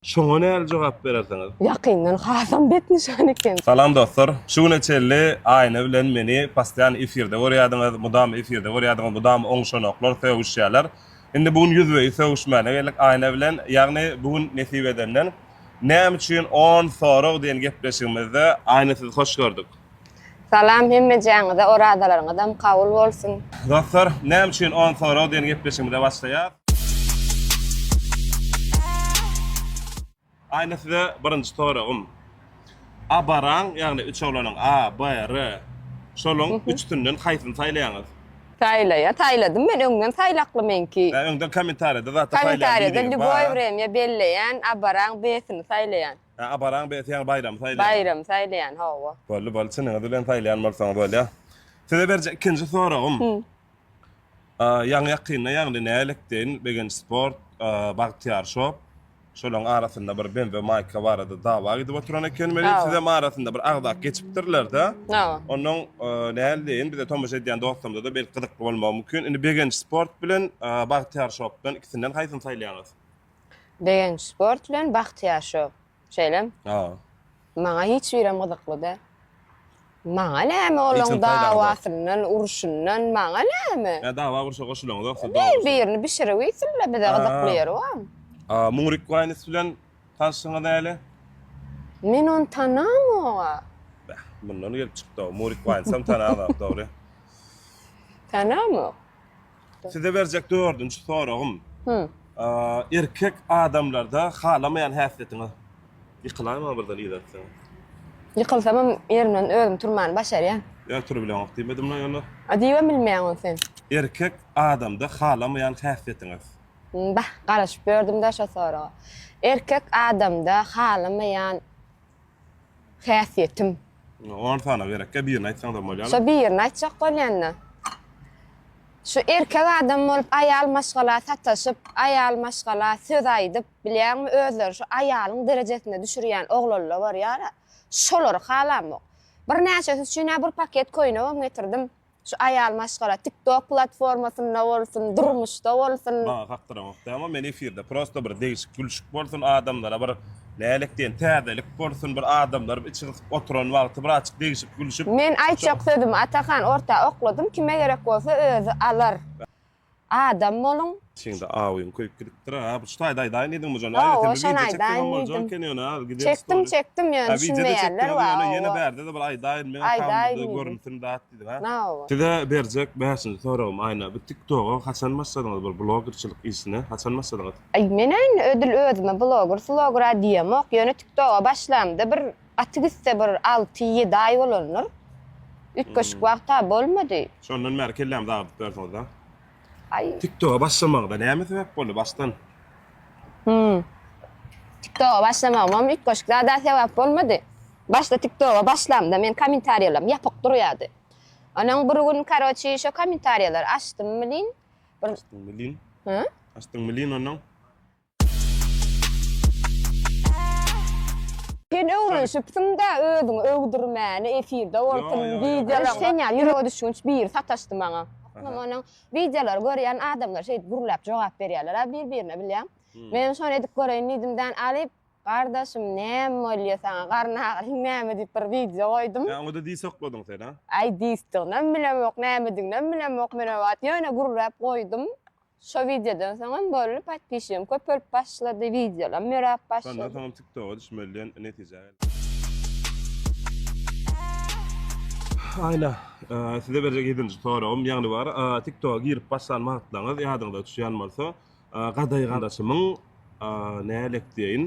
Şoňa näli jogap berersiňiz? Ýakyndan hasam bet nyşan eken. Salam dostlar. Şu güne çenli Aýna bilen meni postoýan efirde görýädiňiz, mydama efirde görýädiňiz, mydama oňşanoklar sögüşýärler. Indi bu gün ýüzbe-ýüz sögüşmäne geldik Aýna bilen. Ýagny bu gün nesip edenden Näme üçin on sorag diýen gepleşigimizde Aýna sizi hoş gördük. Salam hemmejäňize orazalaryňyzam kabul bolsun. Dostlar näme üçin on sorag diýen gepleşigimize başlaýas. Aýna size birinji soragym. Abaraň ýagny üç oglanyň A, B, R şolaň üçüsinden haýsyny saýlaýaňyz? Saýlaýa saýladym men öňden saýlakly meňki. Öňden kommentariýada zatda saýlaýan diýdiňiz. Kommentariýada lýuboý wremýa belleýän abaraň B-sini saýlaýan. Hä abaran beti ýaňy baýramy saýlaýan. Baýramy saýlaýan hawa. Boldy boldy çynyňyz bilen saýlaýan bolsaňyz bolýa. Size berjek ikinji soragym. Ýaňy ýakynda ýagny nälik deýin Begenç sport, Bagtyýar shop şolaň arasynda bir BMW maýka barada dawa gidip oturan eken welin sizem arasynda bir agzak geçipdirlerde. Hawa. Onnoň näl deýin bize tomaşa edýän dostlarymyzada belki gyzykly bolmagy mümkin. Indi Begenç sport bilen Bagtyýar shopdan ikisinden haýsyny saýlaýaňyz? Begenç sport bilen Bahtyýar şou. Şeýlem? Ha. Maňa hiç birem gyzykly däl. Maňa näme olaň dawasyndan, urşundan, maňa näme? Ýa dawa urşa goşulyňyz ýoksa dost. Bir birini bişirip iýsinler bize gyzykly ýeri bar. A Muňrik Waýnis bilen tanşyňyz näle? Men ony tanamog-a. Bäh, mundan gelip çykdy-ow. Murik Waýnsam tananok, dogry. Tanamok. Size berjek dördünji soragym. Hü. Erkek adamlarda halamaýan häsiýetiňiz? Ýykylaýma birden yzartsaň. Ýykylsamam ýerimden özüm turmany başarýan. Ýa turbileňok diýmedim la ýöne. A diýibem bilmeýäň ony sen. Erkek adamda halamaýan häsiýetiňiz? Bah, garaşyp ýördüm-dä şo soraga. Erkek adamda halamaýan Häsiýetim. On sany gerekkä birini aýtsaňzam bolýar. Şo birini aýtjak bolýanda. Şu erkek adam bolup aýal maşgala sataşyp, aýal maşgala söz aýdyp, bilýäňmi, özleri şu aýalyň derejesine düşürýän oglanla bar ýara. Şolary halamok. Birnäçesi üçin-ä bir paket köýnegem getirdim. Şu aýal maşgala tiktok platformasynda bolsun durmuşda bolsun. Maňa kakdyramok dämo men efirde prosta bir degişik gülşik bolsun adamlara bir nälik diýen täzelik bolsun bir adamlar içi gysyp oturan wagty bir açyk degişik gülşüp. Men aýtjak sözümi Atahan orta okladym kime gerek bolsa özi alar. Adam boluň. Seňde awyň köýüp gidipdir a. Bu şu taýda aýdaýyn diýdiň bu jan. Aýda Hawa, sen bir şony wideo çekseň aýdaýyn hem boljaň diýdim. eken ýöne a gider Çekdim, story. çekdim ýöne A wideo-da düşünmeýärler çekdiňem wa ýöne ýene owo. bärde-de bir aýdaýyn meň Aýdaýyn akawundymda diýdim. görünsin dat diýdiň a. Hawa. Size berjek bäşinji soragym Aýna bu tik toga haçan başladyňyz bir blogerçilik işine haçan başladyňyz? Aý men indi ödül özüme bloger sloger a diýemok ýöne tik toga başlamda bir Gaty gitse bir alty, ýedi aý bolandyr. Üýtgeşik wagta bolmady. Şondan bäri kellämizi agyrdyp ýörsiňiz-a. Aý. TikToga başlamagyňyza näme sebäp boldy başdan? Hum. TikToga başlamagymam üýtgeşik zada sebäp bolmady. Başda TikToga başlamda meniň kommentariýalarym ýapyk durýardy. Onuň bir gün karoçi şo kommentariýalary açdym welin, bir. Açdyň welin? Hä? Açdyň welin onuň? Sen öwrenşipsiň-dä özüňi öwdürmäni efirde bolsun wideolar. Ýok sen ýaly ýürege düşgünç biri sataşdy maňa. Onuň wideolary görýän adamlar şeýdip gürläp jogap berýärler-ä bir birine bilýäň. Menem şony edip göreýin diýdim dän alyp Gardaşym näme bolýa saňa garyn agyryň näme diýip bir wideo goýdum. Ýa oňada dis okladyň sen-ä. Aý disdiginem bilemok nämediginem bilemok men o wagt ýöne gürläp goýdum. Şo wideodan soňam bolly podpişigim köp bolup başlady wideolam ýöräp başlady. Şondan soňam tiktoga düşmeli diýen netijä geldim. Aýna size berjek ýedinji soragym ýagny bar tiktoga girip başlan wagtlaryňyz ýadyňyza düşýän bolsa gadaý garaşymyň nälektdeýin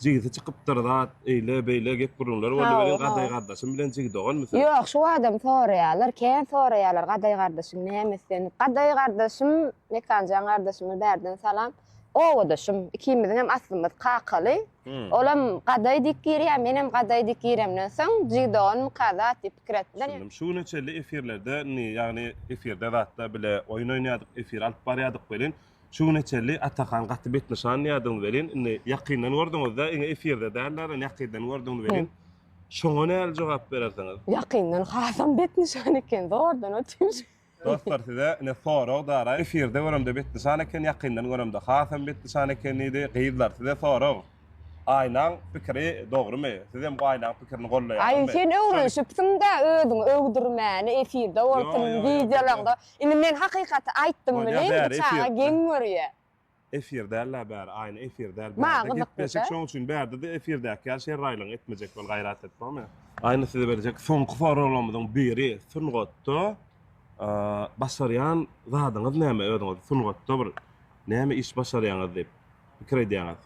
jigisi çykypdyr zat eýle beýle gep gürrüňler boldy meniň gadaý gardaşym bilen jigi doganmy sen? Ýok şu badam soraýalar kän soraýalar gadaý gardaşyň näme islenip gadaý gardaşym Mekanjan gardaşyma bärden salam obadaşym ikimiziňem aslymyz kakaly olam gadaý diýip girýär menem gadaý diýip giremden soň jigi doganmyka zat diýip pikir etdiler şu güne çenli efirlerde indi ýagny efirde zatda bile oýun oýnaýadyk efir alyp barýadyk welin Şu güne çenli Atahan gaty betnyşan diýýärdiňiz welin, indi ýakyndan gördüňiz-dä, indi efirde däl-de, indi ýakyndan gördüňiz welin, şoňa nähili jogap berersiňiz? Ýakyndan hasam betnyşan eken, zordan otyryn. Dostlar, size ine sorag dara, efirde göremde betnyşan eken, ýakyndan göremde hasam betnyşan eken diýdi. Gyzlar, size sorag, Aýnaň pikiri dogrumy? Sizem bu Aýnaň pikirini goldaýaňyzmy? Aý, sen öwrenşipsiň-dä özüňi öwdürmäni, efirde bolsun, wideolaňda. Indi men hakykaty aýtdym Bolýa, welin bäri bu çaga efir. geň görýä. Efir däl-ä bäri, aýna efir däl Maňa bärde gyzykly-da. gepleşik şoň üçin bärde-de efirdäki ýaly şerraýlygyňy etmejek bol gaýrat et bolmy? Aýna size berjek soňky soraglarymyzyň biri sungatda başarýan zadyňyz näme özüňiz sungatda bir näme iş başarýaňyz diýip pikir edýäňiz?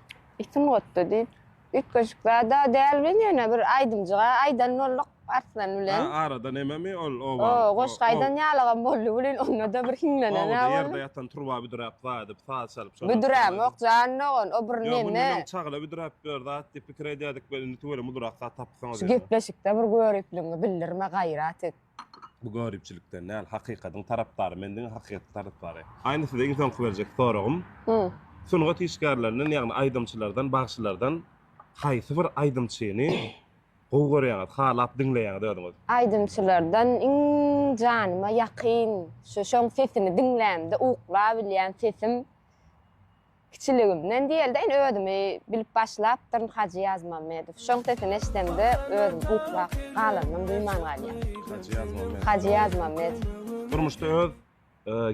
Sungatda diýip. Üýtgeşik zad-a däl biz ýöne bir aýdymjyga aýdan bolduk Arslan bilen. Hä, arada nämemi ol oba. O, goşgy aýdan ýalygam boldy welin onda-da bir hiňlenen-ä boldy. Owada ýerde ýatan turba büdräp zadyp, saz çalyp şonam. Büdrämok jan dogan, o bir neme. Ýok, indi onuň çagla büdräp ýör zat diýip pikir edýärdik welin tüweleme ulurak zat tapypsyňyz ýöne. Şu gepleşikde bir göripligiňi bildirme gaýrat et. Bu göripçilikden däl hakykadyň tarapdary men diňe hakykatyň tarapdary. Aýna size iň soňky berjek soragym. Sungat işgärlerinden ýagny aýdymçylardan bagşylardan haýsy bir aýdymçyny gowy görýäňiz halap diňleýäňiz özüňiz. Aýdymçylardan iň janyma ýakyn şu şoň sesini diňlämde uklabilýän sesim. Kiçiligimden diýeldeýin özümi bilip başlapdyryn Hajy Ýazmammedow. Şoň sesini eşidemde özüm uklap galanymam duýman galýar. Hajy Ýazmammedow. Hajy Ýazmammedow. Durmuşda öz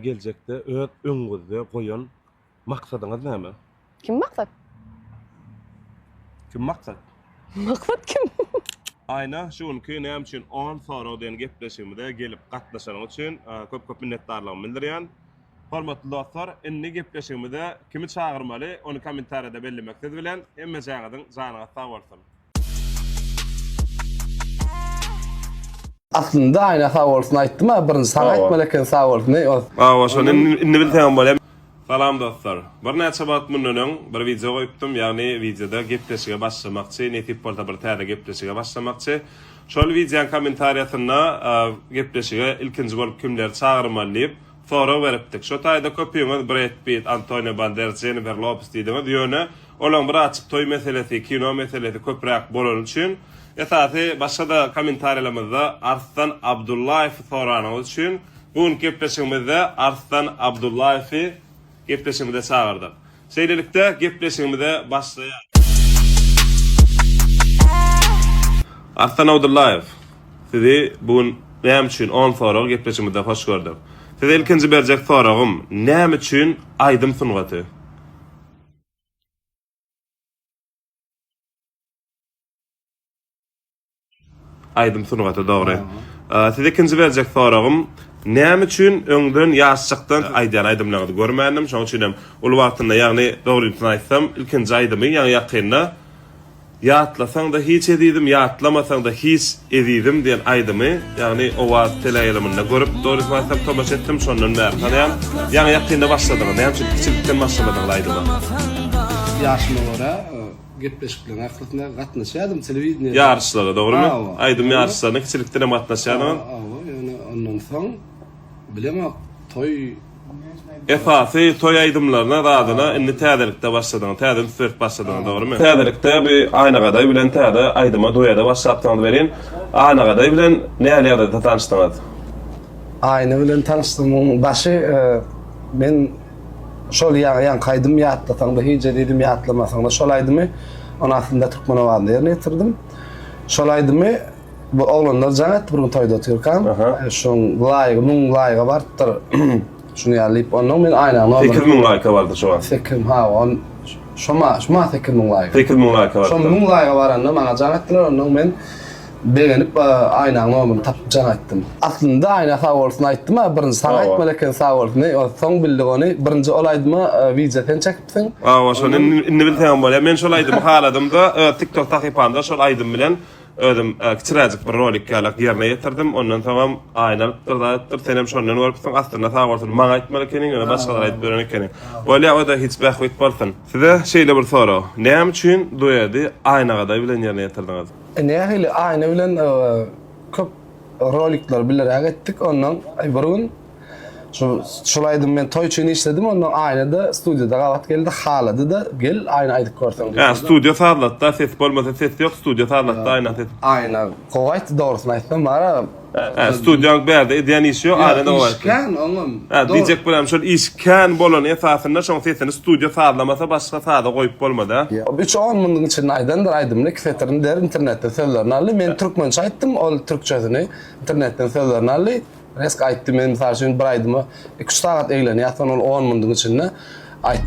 geljekde öz öňüňizde goýan maksadyňyz näme? Kim maksat? Kim maksat? Maksat kim? Aýna şu günki näme üçin on sorag diýen gepleşigimize gelip gatnaşanyň üçin köp köp minnetdarlygymy bildirýän. Hormatly dostlar indi gepleşigimize kimi çagyrmaly ony komentariyada bellemek siz bilen hemmejaňyzyň janyňyz sag bolsun. Aslynda Aýna sag bolsun aýtdym a birinji saňa aýtmaly eken sag bolsun eý os. Hawa şony indi bilsem bolýa. Salam dostlar. Birnäçe wagt mundan öň bir wideo goýupdym, ýagny wideoda gepleşige başlamakçy, nesip bolsa bir täze gepleşige başlamakçy. Şol wideoň kommentariýasynda gepleşige ilkinji bolup kimleri çagyrmaly diýip, Sorag beripdik. Şo taýda köpüňiz Bred Pitt, Antonio Banderas, Jennifer Lopes diýdiňiz, ýöne olaň bir açyk toý meselesi, kino meselesi köpräk bolany üçin, esasy başga-da kommentariýalarymyzda Arslan Abdullaýewi soranyňyz üçin bu günki gepleşigimizde Arslan Abdullaýewi Gepleşigimize çagyrdyk. Şeýlelikde, gepleşigimize başlaýarys. Arslan Abdullaýew, sizi bu gün näme üçin on soragy gepleşigimizde hoş gördük. Size ilkinji berjek soragym, näme üçin aýdym sungaty? Aýdym sungaty dogry. Size ikinji berjek soragym, näme üçin öňden ýaşjakdan aýdýan aýdymlaryňyzy görmändim, şonuň üçin hem uly wagtynda, ýagny dogrysyny aýtsam, ilkinji aýdymy, ýaňy ýakynda Ýatlasaň-da hiç ezizim, ýatlamasaň-da hiç ezizim diýen aýdymy, ýagny Owaz teleýaýlymynda görüp, dogrysyny aýtsam, tomaşa etdim, şondan bäri tanaýan. Ýaňy ýakynda başladyňyz, näme üçin kiçilikden başlamadyňyz aýdyma? Ýaşyma görä, Gepleşikleriň ahyrsyna gatnaşýadym telewideniýe. Ýaryşlara, dogrymy? Aýdym ýaryşlaryna kiçilikden hem gatnaşýardyňyz. Hawa, ýöne ondan soň bilemok, toý. Esasy toý aýdymlaryna, zadyna indi täzelikde başladyňyz, täze üns berip başladyňyz, dogrymy? Täzelikde bu Aýnagaday bilen täze aýdyma, duede başlapsyňyz welin, Aýnagaday bilen nähili ýagdaýda tanyşdyňyz? Aýna bilen tanyşdygymyň başy men. Şol ýaňky aýdymy ýatlasaňda hic-e diýdim, ýatlamasaňda şol aýdymy ony aslynda türkmen owazynda ýerine ýetirdim. Şol aýdymy bu oglanlar jaň etdi bir gün toýda otyrkam. Şoň laýygy müň laýyga barypdyr. Şuny ýaly diýip onnoň men aýnaň nomerini. Sekiz müň laýka bardy şo wagt. Sekiz ha on şo ma şo ma sekiz müň laýka. Sekiz müň laýka bardy. Şo müň laýga baranda maňa jaň etdiler onnoň men Begenip Aýnaň nomyny tapyp jan aýtdym. Aslynda Aýna sag bolsun aýtdym a birinji saňa aýtmaly eken sag bolsun eý ony soň bildik ony birinji ol aýdyma wideo sen çekipsiň. Hawa şony indi bilseňem bolýa men şol aýdymy haladymda öz tik tok sahypamda şol aýdym bilen özüm kiçiräjik bir rolik ýalak ýerine ýetirdim ondan soňam Aýna alypdyr zat edipdir senem şondan görüpsiň aslynda sag bolsun maňa aýtmaly ekeniň ýöne başgalara aýdyp ýören ekeniň bolýa oda hiç bähbit bolsun. Size şeýle bir sorag näme üçin duedi Aýna Gadaý bilen ýerine ýetirdiňiz? Nähili Aýna bilen köp rolikler bileräk etdik ondan bir gün şu şul aýdymy men toý üçin işledim ondan Aýnada studiýada gabat geldi haladyda gel Aýna aýdyp görseň diýip. Ýa studiýa sazlatda ses bolmasa ses ýok studiýa sazlatda Aýna ses. Aýna gowy aýtdy dogrusyny aýtsam Mara He studiýaň bärde edýän işi ýok arada o aýtdy. Kän oňam. He diýjek bolam şol iş kän bolany esasynda şoň sesini studiýa sazlamasa başga saza goýup bolmada. Üç on munyň içinde aýdandyr aýdymyny iki setirini der internetden sözlerini aldy men türkmençe aýtdym ol türkçesini internetden sözlerini aldy resk aýtdy men mysal üçin bir aýdyma iki üç sagat eglenýär soň ol on munyň içinde Aý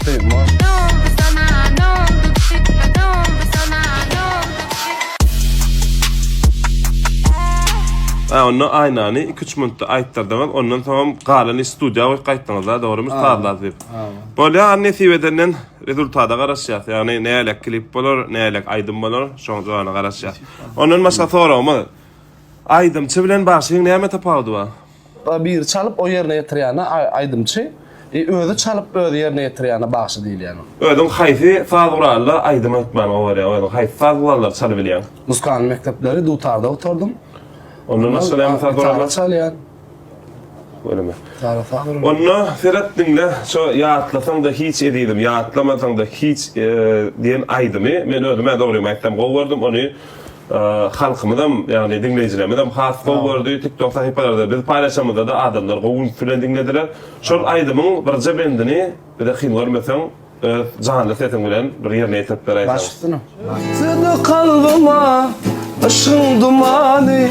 onda Aýnany iki üç minutda aýtdyrdyňyz ondan soňam galan iş studiýa goýup gaýtdyňyzda dogrymy sazlap diýip. Bolýa an nesip edenden rezultada garaşýas ýagny nälelik klip bolar nälelik aýdym bolar şoň jogana garaşýas. Ondan başga soragym bar aýdymçy bilen bagşyň näme tapawudy bar? Ba biri çalyp o ýerine ýetirýäne aýdymçy, e özi çalyp özi ýerine ýetirýäne bagşy diýilýäne. Özüň haýsy saz guralda aýdym aýtman gowy görýäň? Özüň haýsy saz gurallary çalybilýäň? Muzykany mekdepleri dutarda oturdym. Ondan başga näme saz gurallar? Gitara çalýan. Göreme. Gitara saz gurallar. Onda seret diňle şo Ýatlasaň-da hiç ezizim, ýatlamasaň-da hiç diýen aýdymy men özüm-ä dogrymy aýtsam gowy gördüm. Ony Halkymyzam, ýagny diňleýjilermizem has gowy gördi. TikTok sahypalarda biz paýlaşamyzda-da adamlar gowy üns bilen diňlediler. Şol aýdymyň birje bendini bize kyn görmeseň, öz janly sesiň bilen bir ýerine ýetirip beräýseň. Baş üstüne. Batdy kalbyma yşgyň dumany,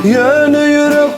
ýöne ýürek.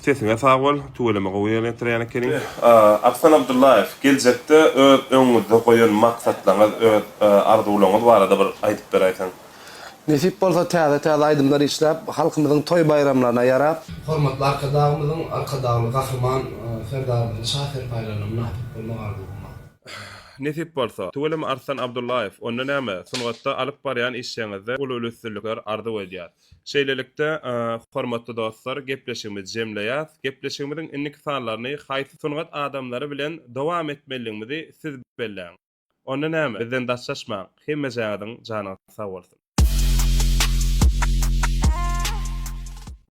Sesiňe sag bol, tüweleme gowy ýerine ýetirýän ekeniň. Arslan Abdullaýew, geljekde öz öňüňizde goýan maksatlaryňyz, öz arzuwlaryňyz barada bir aýdyp beräýseň. Nesip bolsa täze täze aýdymlar işläp, halkymyzyň toý baýramlaryna ýarap, Hormatly Arkadagymyzyň, Arkadagly Gahryman Serdarymyzyň şa serpaýlaryna mynasyp bolmak arzuwymyz. Nesip bolsa, tüweleme Arslan Abdullaýew, onda näme, sungatda alyp barýan işleriňizde uly-uly üstünlikler arzuw edýäs. Şeýlelikde, hormatly dostlar, gepleşigimizi jemleýäs. Gepleşigimiziň indiki sanlaryny haýsy sungat adamlary bilen dowam etmelidigimizi siz belläň. Onda näme, bizden daşlaşmaň. Hemmejaňyzyň janyňyz sag bolsun!